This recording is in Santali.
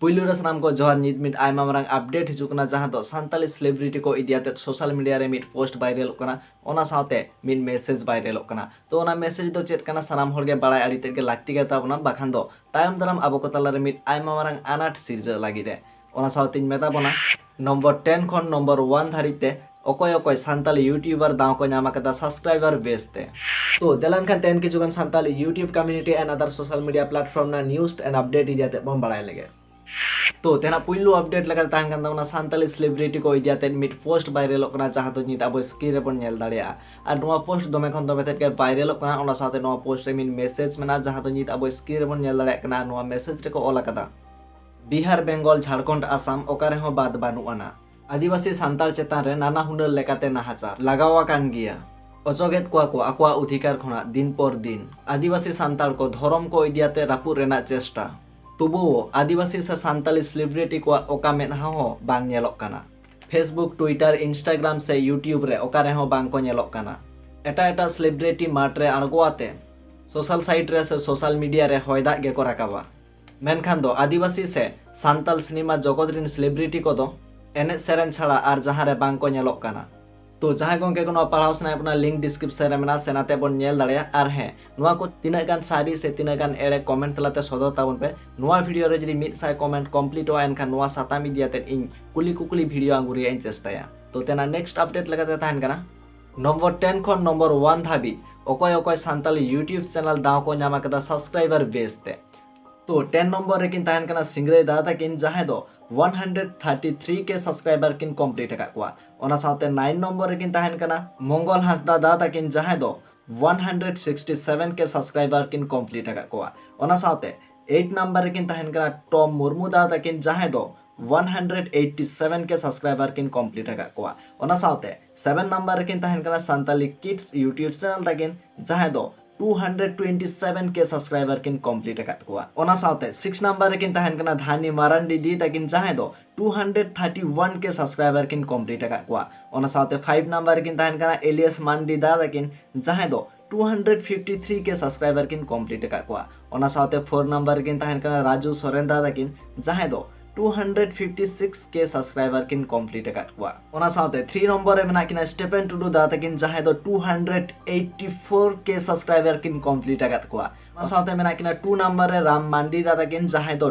ᱯᱩᱭᱞᱩ ᱨᱮ ᱥᱟᱱᱟᱢ ᱠᱚ ᱡᱚᱦᱟᱨ ᱱᱤᱛ ᱢᱤᱫ ᱟᱭᱢᱟ ᱢᱟᱨᱟᱝ ᱟᱯᱰᱮᱴ ᱦᱤᱡᱩᱜ ᱠᱟᱱᱟ ᱡᱟᱦᱟᱸ ᱫᱚ ᱥᱟᱱᱛᱟᱞᱤ ᱥᱮᱞᱮᱵᱨᱤᱴᱤ ᱠᱚ ᱤᱫᱤ ᱟᱛᱮ ᱥᱳᱥᱟᱞ ᱢᱤᱰᱤᱭᱟ ᱨᱮ ᱢᱤᱫ ᱯᱳᱥᱴ ᱵᱟᱭᱨᱟᱞᱚᱜ ᱠᱟᱱᱟ ᱚᱱᱟ ᱥᱟᱶᱛᱮ ᱢᱤᱫ ᱢᱮᱥᱮᱡᱽ ᱵᱟᱭᱨᱟᱞᱚᱜ ᱠᱟᱱᱟ ᱛᱚ ᱚᱱᱟ ᱢᱮᱥᱮᱡᱽ ᱫᱚ ᱪᱮᱫ ᱠᱟᱱᱟ ᱥᱟᱱᱟᱢ ᱦᱚᱲ ᱜᱮ ᱵᱟᱲᱟᱭ ᱟᱹᱰᱤ ᱛᱮᱫ ᱜᱮ ᱞᱟᱹᱠᱛᱤ ᱜᱮ ᱛᱟᱵᱚᱱᱟ ᱵᱟᱠᱷᱟᱱ ᱫᱚ ᱛᱟᱭᱚᱢ ᱫᱟᱨᱟᱢ ᱟᱵᱚ ᱠᱚ ᱛᱟᱞᱟ ᱨᱮ ᱢᱤᱫ ᱟᱭᱢᱟ ᱢᱟᱨᱟᱝ ᱟᱱᱟᱴ ᱥᱤᱨᱡᱟᱹᱜ ᱞᱟᱹᱜᱤᱫ ᱮ ᱚᱱᱟ ᱥᱟᱶᱛᱮᱧ ᱢᱮᱛᱟ ᱵᱚᱱᱟ ᱱᱚᱢᱵᱚᱨ ᱴᱮᱱ ᱠᱷᱚᱱ ᱱᱚᱢᱵᱚᱨ ᱳᱣᱟᱱ ᱫᱷᱟᱹᱨᱤᱡ ᱛᱮ ᱚᱠᱚᱭ ᱚᱠᱚᱭ ᱥᱟᱱᱛᱟᱞᱤ ᱭᱩᱴᱭᱩᱵᱟᱨ ᱫᱟᱣ ᱠᱚ ᱧᱟᱢ ᱟᱠᱟᱫᱟ ᱥᱟᱵᱥᱠᱨᱟᱭᱵᱟᱨ ᱵᱮᱥ ᱛᱮ ᱛᱚ ᱫᱮᱞᱟ ᱮᱱᱠᱷᱟᱱ ᱛᱮᱦᱮᱧ ᱠᱤᱪᱷᱩ ᱜᱟᱱ ᱥᱟᱱᱛᱟᱞᱤ ᱭᱩᱴᱭᱩᱵᱽ ᱠᱚᱢᱤᱭᱩᱱᱤᱴᱤ ᱮᱱᱰ ᱟᱫᱟᱨ ᱥᱳᱥᱟᱞ ᱢᱤᱰᱤᱭᱟ ᱯᱞᱟᱴᱯᱷᱚᱨᱢ ᱨᱮᱱᱟᱜ ᱱᱤᱭᱩᱡᱽ ᱮᱱᱰ ᱟᱯᱰᱮᱴ ᱤᱫᱤ ᱟᱛᱮ ᱵᱚᱱ ᱵᱟᱲᱟᱭ ᱞᱮᱜᱮ ᱛᱚ ᱛᱮᱦᱮᱧᱟᱜ ᱯᱩᱭᱞᱩ ᱟᱯᱰᱮᱴ ᱞᱮᱠᱟᱛᱮ ᱛᱟᱦᱮᱱ ᱠᱟᱱ ᱛᱟᱵᱚᱱᱟ ᱥᱟᱱᱛᱟᱞᱤ ᱥᱮᱞᱤᱵᱨᱤᱴᱤ ᱠᱚ ᱤᱫᱤ ᱟᱛᱮ ᱢᱤᱫ ᱯᱳᱥᱴ ᱵᱷᱟᱭᱨᱟᱞᱚᱜ ᱠᱟᱱᱟ ᱡᱟᱦᱟᱸ ᱫᱚ ᱱᱤᱛ ᱟᱵᱚ ᱥᱠᱨᱤᱱ ᱨᱮᱵᱚᱱ ᱧᱮᱞ ᱫᱟᱲᱮᱭᱟᱜᱼᱟ ᱟᱨ ᱱᱚᱣᱟ ᱯᱳᱥᱴ ᱫᱚᱢᱮ ᱠᱷᱚᱱ ᱫᱚᱢᱮ ᱛᱮᱫ ᱜᱮ ᱵᱷᱟᱭᱨᱟᱞᱚᱜ ᱠᱟᱱᱟ ᱚᱱᱟ ᱥᱟᱶᱛᱮ ᱱᱚᱣᱟ ᱯᱳᱥᱴ ᱨᱮ ᱢᱤᱫ ᱢᱮᱥᱮᱡᱽ ᱢᱮᱱᱟᱜᱼᱟ ᱡᱟᱦᱟᱸ ᱫᱚ ᱱᱤᱛ ᱟᱵᱚ ᱥᱠᱨᱤᱱ ᱨᱮᱵᱚᱱ ᱧᱮᱞ ᱫᱟᱲᱮᱭᱟᱜ ᱠᱟᱱᱟ ᱱᱚᱣᱟ ᱢᱮᱥᱮᱡᱽ ᱨᱮᱠᱚ ᱚᱞ ᱟᱠᱟᱫᱟ ᱵᱤᱦᱟᱨ ᱵᱮᱝᱜᱚᱞ ᱡᱷᱟᱲᱠᱷᱚᱸᱰ ᱟᱥᱟᱢ ᱚᱠᱟ ᱨᱮᱦᱚᱸ ᱵᱟᱫᱽ ᱵᱟᱹᱱᱩᱜ ᱟᱱᱟ ᱟᱹᱫᱤᱵᱟᱹᱥᱤ ᱥᱟᱱᱛᱟᱲ ᱪᱮᱛᱟᱱ ᱨᱮ ᱱᱟᱱᱟ ᱦᱩᱱᱟᱹᱨ ᱞᱮᱠᱟᱛᱮ ᱱᱟᱦᱟᱪᱟᱨ ᱞᱟᱜᱟᱣ ᱟᱠᱟᱱ ᱜᱮᱭᱟ ᱚᱪᱚᱜᱮᱫ ᱠᱚᱣᱟ ᱠᱚ ᱟᱠᱚᱣᱟᱜ ᱚᱫᱷᱤᱠᱟᱨ ᱠᱷᱚᱱᱟᱜ ᱫᱤᱱ ᱯᱚᱨ ᱫᱤᱱ ᱟᱹᱫᱤᱵᱟᱹᱥᱤ ᱥᱟᱱᱛᱟᱲ ᱠᱚ ᱫᱷᱚᱨᱚᱢ ᱠᱚ ᱤᱫᱤ ᱟᱛᱮ ᱨᱟᱹᱯᱩᱫ ᱨᱮᱱᱟᱜ ᱪᱮᱥᱴᱟ ᱛᱚᱵᱩᱣᱳ ᱟᱹᱫᱤᱵᱟᱹᱥᱤ ᱥᱮ ᱥᱟᱱᱛᱟᱲᱤ ᱥᱮᱞᱤᱵᱨᱤᱴᱤ ᱠᱚᱣᱟᱜ ᱚᱠᱟ ᱢᱮᱫᱦᱟ ᱦᱚᱸ ᱵᱟᱝ ᱧᱮᱞᱚᱜ ᱠᱟᱱᱟ ᱯᱷᱮᱥᱵᱩᱠ ᱴᱩᱭᱴᱟᱨ ᱤᱱᱥᱴᱟᱜᱨᱟᱢ ᱥᱮ ᱭᱩᱴᱭᱩᱵᱽ ᱨᱮ ᱚᱠᱟ ᱨᱮᱦᱚᱸ ᱵᱟᱝ ᱠᱚ ᱧᱮᱞᱚᱜ ᱠᱟᱱᱟ ᱮᱴᱟᱜ ᱮᱴᱟᱜ ᱥᱮᱞᱤᱵᱨᱤᱴᱤ ᱢᱟᱴ ᱨᱮ ᱟᱬᱜᱚ ᱟᱛᱮ ᱥᱳᱥᱟᱞ ᱥᱟᱭᱤᱴ ᱨᱮ ᱥᱮ ᱥᱳᱥᱟᱞ ᱢᱤᱰᱤᱭᱟ ᱨᱮ ᱦᱚᱭ ᱫᱟᱜ ᱜᱮᱠᱚ ᱨᱟᱠᱟᱵᱟ ᱢᱮᱱᱠᱷᱟᱱ ᱫᱚ ᱟᱹᱫᱤᱵᱟᱹᱥᱤ ᱥᱮ ᱥᱟᱱᱛᱟᱞ ᱥᱤᱱᱮᱢᱟ ᱡᱚᱜᱚᱛ ᱨᱤᱱ ᱥᱮᱞᱮᱵᱨᱤᱴᱤ ᱠᱚᱫᱚ ᱮᱱᱮᱡ ᱥᱮᱨᱮᱧ ᱪᱷᱟᱲᱟ ᱟᱨ ᱡᱟᱦᱟᱸ ᱨᱮ ᱵᱟᱝ ᱠᱚ ᱧᱮᱞᱚᱜ ᱠᱟᱱᱟ ᱛᱚ ᱡᱟᱦᱟᱸᱭ ᱜᱚᱝᱠᱮ ᱠᱚ ᱱᱚᱣᱟ ᱯᱟᱲᱦᱟᱣ ᱥᱟᱱᱟᱭᱮᱫ ᱵᱚᱱᱟ ᱞᱤᱝᱠ ᱰᱤᱥᱠᱨᱤᱯᱥᱚᱱ ᱨᱮ ᱢᱮᱱᱟᱜᱼᱟ ᱥᱮ ᱱᱟᱛᱮ ᱵᱚᱱ ᱧᱮᱞ ᱫᱟᱲᱮᱭᱟᱜᱼᱟ ᱟᱨ ᱦᱮᱸ ᱱᱚᱣᱟ ᱠᱚ ᱛᱤᱱᱟᱹᱜ ᱜᱟᱱ ᱥᱟᱹᱨᱤ ᱥᱮ ᱛᱤᱱᱟᱹᱜ ᱜᱟᱱ ᱮᱲᱮ ᱠᱚᱢᱮᱱᱴ ᱛᱟᱞᱟᱛᱮ ᱥᱚᱫᱚᱨ ᱛᱟᱵᱚᱱ ᱯᱮ ᱱᱚᱣᱟ ᱵᱷᱤᱰᱤᱭᱳ ᱨᱮ ᱡᱩᱫᱤ ᱢᱤᱫ ᱥᱟᱭ ᱠᱚᱢᱮᱱᱴ ᱠᱚᱢᱯᱞᱤᱴᱚᱜᱼᱟ ᱮᱱᱠᱷᱟᱱ ᱱᱚᱣᱟ ᱥᱟᱛᱟᱢ ᱤᱫᱤ ᱟᱛᱮᱫ ᱤᱧ ᱠᱩᱞᱤ ᱠᱩᱠᱞᱤ ᱵᱷᱤᱰᱤᱭᱳ ᱟᱹᱜᱩ ᱨᱮᱭᱟᱜ ᱤᱧ ᱪᱮᱥᱴᱟᱭᱟ ᱛᱚ ᱛᱮᱱᱟᱜ ᱱᱮᱠᱥᱴ ᱟᱯᱰᱮᱴ ᱞᱮᱠᱟᱛᱮ ᱛᱟᱦᱮᱱ ᱠᱟᱱᱟ ᱱᱚᱢᱵᱚᱨ 10 ᱠᱷᱚᱱ ᱱᱚᱢᱵᱚᱨ 1 ᱫᱷᱟᱹᱵᱤᱡ ᱚᱠᱚᱭ ᱚᱠᱚᱭ ᱥᱟᱱᱛᱟᱞᱤ ᱭᱩᱴᱤᱭᱩᱵᱽ ᱪᱮᱱᱮᱞ ᱫᱟᱣ ᱠᱚ ᱧᱟᱢ ᱟᱠᱟᱫᱟ ᱥᱟᱵᱥᱠᱨᱟᱭᱵᱟᱨ ᱵᱮᱥ ᱛᱮ ᱛᱚ 10 ᱱᱚᱢᱵᱚᱨ ᱨᱮᱠᱤᱱ ᱛᱟᱦᱮᱱ ᱠᱟᱱᱟ ᱥᱤᱝᱨᱟᱹᱭ ᱫᱟᱫᱟ ᱛᱟᱹᱠᱤᱱ ᱡᱟᱦᱟᱸᱭ ᱫᱚ 133 ᱠᱮ ᱥᱟᱵᱥᱠᱨᱟᱭᱵᱟᱨ ᱠᱤᱱ ᱠᱚᱢᱯᱞᱤᱴ ᱟᱠᱟᱫ ᱠᱚᱣᱟ ᱚᱱᱟ ᱥᱟᱶᱛᱮ 9 ᱱᱚᱢᱵᱚᱨ ᱨᱮᱠᱤᱱ ᱛᱟᱦᱮᱱ ᱠᱟᱱᱟ ᱢᱚᱝᱜᱚᱞ ᱦᱟᱸᱥᱫᱟ ᱫᱟᱫᱟ ᱛᱟᱹᱠᱤᱱ ᱡᱟᱦᱟᱸᱭ ᱫᱚ 167 ᱠᱮ ᱥᱟᱵᱥᱠᱨᱟᱭᱵᱟᱨ ᱠᱤᱱ ᱠᱚᱢᱯᱞᱤᱴ ᱟᱠᱟᱫ ᱠᱚᱣᱟ ᱚᱱᱟ ᱥᱟᱶᱛᱮ 8 ᱱᱚᱢᱵᱚᱨ ᱨᱮᱠᱤᱱ ᱛᱟᱦᱮᱱ ᱠᱟᱱᱟ ᱴᱚᱢ ᱢᱩᱨᱢᱩ ᱫᱟᱫᱟ ᱛᱟᱹᱠᱤᱱ ᱡᱟᱦᱟᱸᱭ ᱫᱚ 187 ᱠᱮ ᱥᱟᱵᱥᱠᱨᱟᱭᱵᱟᱨ ᱠᱤᱱ ᱠᱚᱢᱯᱞᱤᱴ ᱟᱠᱟᱫ ᱠᱚᱣᱟ ᱚᱱᱟ ᱥᱟᱶᱛᱮ ᱥᱮᱵᱷᱮᱱ ᱱᱟᱢᱵᱟᱨ ᱨᱮᱠᱤᱱ ᱛᱟᱦᱮᱱ ᱠᱟᱱᱟ ᱥᱟᱱᱛᱟᱞᱤ ᱠᱤᱰᱥ ᱭᱩᱴᱭᱩᱵᱽ ᱪᱮᱱᱮᱞ ᱛᱟᱹᱠᱤᱱ ᱡᱟᱦᱟᱸᱭ ᱫᱚ 227 ᱠᱮ ᱥᱟᱵᱥᱠᱨᱟᱭᱵᱟᱨ ᱠᱤᱱ ᱠᱚᱢᱯᱞᱤᱴ ᱟᱠᱟᱫ ᱠᱚᱣᱟ ᱚᱱᱟ ᱥᱟᱶᱛᱮ ᱥᱤᱠᱥ ᱱᱟᱢᱵᱟᱨ ᱨᱮᱠᱤᱱ ᱛᱟᱦᱮᱱ ᱠᱟᱱᱟ ᱫᱷᱟᱱᱤ ᱢᱟᱨᱟᱱᱰᱤ ᱫᱤ ᱛᱟᱹᱠᱤᱱ ᱡᱟᱦᱟᱸᱭ ᱫᱚ 231 ᱠᱮ ᱥᱟᱵᱥᱠᱨᱟᱭᱵᱟᱨ ᱠᱤᱱ ᱠᱚᱢᱯᱞᱤᱴ ᱟᱠᱟᱫ ᱠᱚᱣᱟ ᱚᱱᱟ ᱥᱟᱶᱛᱮ ᱯᱷᱟᱭᱤᱵᱽ ᱱᱟᱢᱵᱟᱨ ᱨᱮᱠᱤᱱ ᱛᱟᱦᱮᱱ ᱠᱟᱱᱟ ᱮᱞᱤᱭᱟᱥ ᱢᱟᱱᱰᱤ ᱫᱟ ᱛᱟᱹᱠᱤᱱ ᱡᱟᱦᱟᱸᱭ ᱫᱚ 253 ᱠᱮ ᱥᱟᱵᱥᱠᱨᱟᱭᱵᱟᱨ ᱠᱤᱱ ᱠᱚᱢᱯᱞᱤᱴ ᱟᱠᱟᱫ ᱠᱚᱣᱟ ᱚᱱᱟ ᱥᱟᱶᱛᱮ ᱯᱷᱳᱨ ᱱᱟᱢᱵᱟᱨ ᱨᱮᱠᱤᱱ ᱛᱟᱦᱮᱱ ᱠᱟᱱᱟ ᱨᱟᱡᱩ ᱥᱚᱨᱮᱱ ᱫᱟ ᱛᱟᱹᱠᱤᱱ ᱡᱟᱦᱟᱸᱭ ᱫᱚ 256 ᱠᱮ ᱥᱟᱵᱥᱠᱨᱟᱭᱵᱟᱨ ᱠᱤᱱ ᱠᱚᱢᱯᱞᱤᱴ ᱟᱠᱟᱫ ᱠᱚᱣᱟ ᱚᱱᱟ ᱥᱟᱶᱛᱮ 3 ᱱᱚᱢᱵᱚᱨ ᱨᱮ ᱢᱮᱱᱟᱜ ᱠᱤᱱᱟ ᱥᱴᱮᱯᱷᱮᱱ ᱴᱩᱰᱩ ᱫᱟ ᱛᱟᱹᱠᱤᱱ ᱡᱟᱦᱟᱸᱭ ᱫᱚ 284 ᱠᱮ ᱥᱟᱵᱥᱠᱨᱟᱭᱵᱟᱨ ᱠᱤᱱ ᱠᱚᱢᱯᱞᱤᱴ ᱟᱠᱟᱫ ᱠᱚᱣᱟ ᱚᱱᱟ ᱥᱟᱶᱛᱮ ᱢᱮᱱᱟᱜ ᱠᱤᱱᱟ 2 ᱱᱚᱢᱵᱚᱨ ᱨᱮ ᱨᱟᱢ ᱢᱟᱱᱰᱤ ᱫᱟ ᱛᱟᱹᱠᱤᱱ ᱡᱟᱦᱟᱸᱭ ᱫᱚ